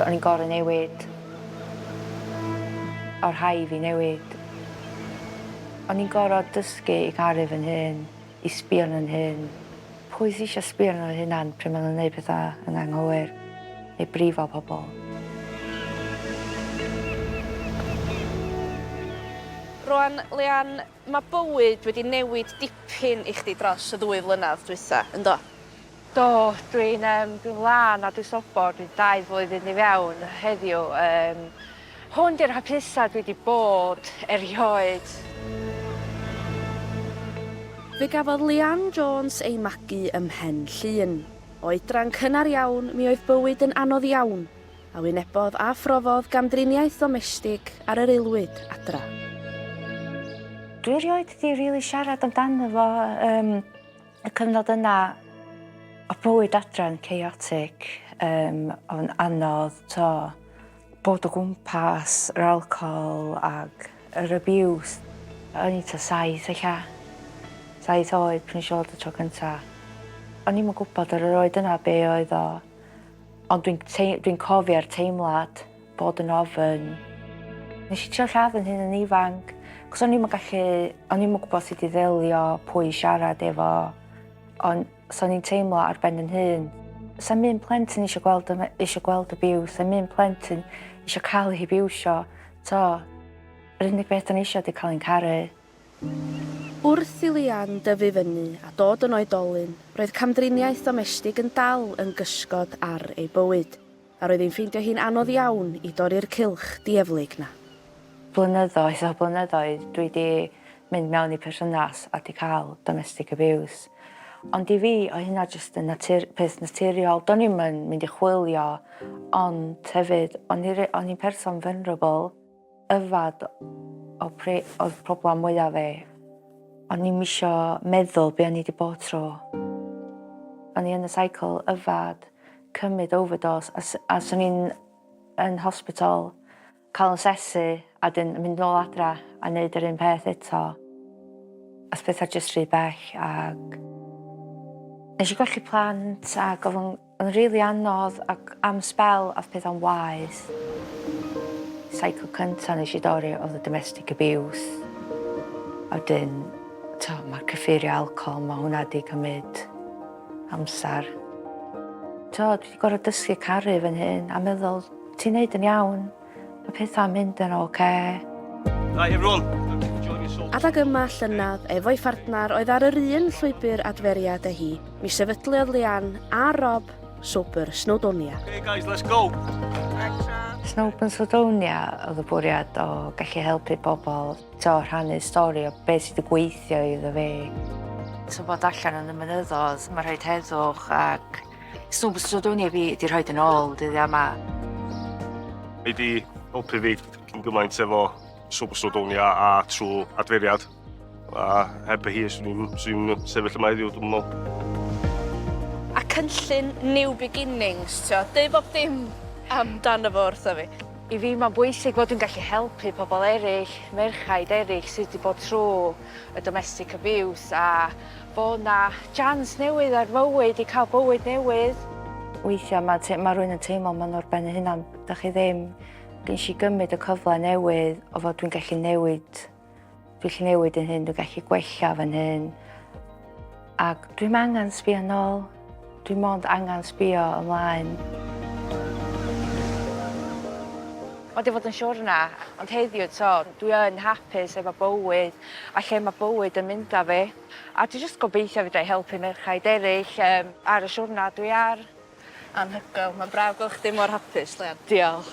O'n i'n gor'o' newid. O' rhai' fi newid. O'n i'n gor'o' dysgu i garu fy'n hun, i sbio arno fy'n hun. Pwy sy isio sbio arno fo hunan pry' ma' nw'n neud petha yn anghywir neu brifo pobol? Rŵan Leanne, Mae bywyd wedi newid dipyn i chdi dros y ddwy flynedd dwytha, yndo? Do, dwi'n yym dwi'n lân a dwi sobor, dwi dau flwyddyn i fewn heddiw, yym hwn di'r hapusa dwi di bod erioed. Fe gafodd Leanne Jones ei magu ym Mhen Llŷn. Oedran cynnar iawn, mi oedd bywyd yn anodd iawn, a wynebodd a phrofodd gamdriniaeth ddomestig ar yr aelwyd adra. Dwi rioed di rili siarad amdano fo yym y cyfnod yna o bywyd adra yn chaotic yym o'n anodd t'o' bod o gwmpas yr alcohol ag yr abuse. O'n i t'a saith ella saith oed pan nesh i weld o tro cynta. O'n i'm yn gwbod ar yr oed yna be' oedd o Ond dwi'n tei- dwi'n cofio'r teimlad bod yn ofyn. Nes i trio lladd yn hun yn ifanc, cos o'n i'm yn gallu, o'n i'm yn gwybod sut i ddelio, pwy i siarad efo, ond so o'n i'n teimlo ar ben yn hun. Sa'n un plentyn eisiau gweld, y- eisiau gweld abuse, sa'n un plentyn eisiau cael ei hibiwsio, t'o', yr unig beth o'n i eisiau ydi cael yn caru. Wrth i Leanne dyfu fyny a dod yn oedolyn, roedd camdriniaeth domestig yn dal yn gysgod ar ei bywyd, a roedd hi'n ffeindio hi'n anodd iawn i dorri'r cylch dieflig 'na. Blynyddoedd ar blynyddoedd dwi 'di mynd mewn i perthynas a 'di cael domestic abuse. Ond i fi oedd hynna jyst yn natur- peth naturiol. Do'n i'm yn mynd i chwilio, ond hefyd o'n i re- o'n i'n person vulnerable. Yfed o pre oedd problem mwyaf fi. O'n i'm isio meddwl be o'n i 'di bod trw. O'n i yn y cycle yfed, cymyd overdose a s- a swn i'n yn hospital ca'l 'yn sesu a 'dyn yn mynd nôl adra a neud yr un peth eto. Ath petha jyst rhy bell ag nesh i golli plant ag o'dd o'n Oedd yn rili anodd ac am sbel ath pethau'n waeth. Cycle cynta nesh i dorri oedd y domestic abuse a wedyn t'o' ma'r cyffurie alcohol ma' hwnna 'di cymyd amsar. T'o' dwi 'di gor'o' dysgu caru fy nhŷn a meddwl ti'n neud yn iawn. Mae pethau'n mynd yn oce. Okay. Right, everyone. Adag yma llynedd, efo'i phartner oedd ar yr un llwybr adferiad â hi, mi sefydliodd Leanne a Rob Swper Snowdonia. Okay guys, let's go! Snowpen Swdonia oedd y bwriad o gallu helpu pobl to rhannu stori o beth sydd wedi gweithio iddo fe. Tybod allan yn y mynyddodd, mae rhaid heddwch ac Swn byswn dwi'n efi di rhoi dyn ôl dyddiau yma. Mae di helpu fi yn gymaint efo swn byswn dwi'n ia a trwy adferiad. A heb y hi swn i'n sefyll yma heddiw dwi'n meddwl. A cynllun New Beginnings, tio, deu bob dim amdano fo wrtho fi. I fi mae'n bwysig fod dwi'n gallu helpu pobl eraill, merchaid eraill sydd wedi bod trwy y domestic abuse a Bo 'na jans newydd ar fywyd i ca'l bywyd newydd. Weithia ma te- ma rwy'n yn teimlo ma nhw ar ben eu hunan. Dach chi ddim Gesh i gymryd y cyfle newydd o fod dwi'n gallu newid dwi'n gallu newid yn hyn dwi'n gallu gwella fy nhyn. Ag dwi'm angan sbio nôl. Dwi mond angan sbio ymlaen. Mae wedi fod yn siwrna, ond heddiw to, dwi yn hapus efo bywyd a lle mae bywyd yn mynd â fi. A dwi jyst gobeithio fedra i helpu merchaid eraill um, ar y siwrna dwi ar. Anhygoel, mae'n braf gweld chdi mor hapus, Leon. Diolch.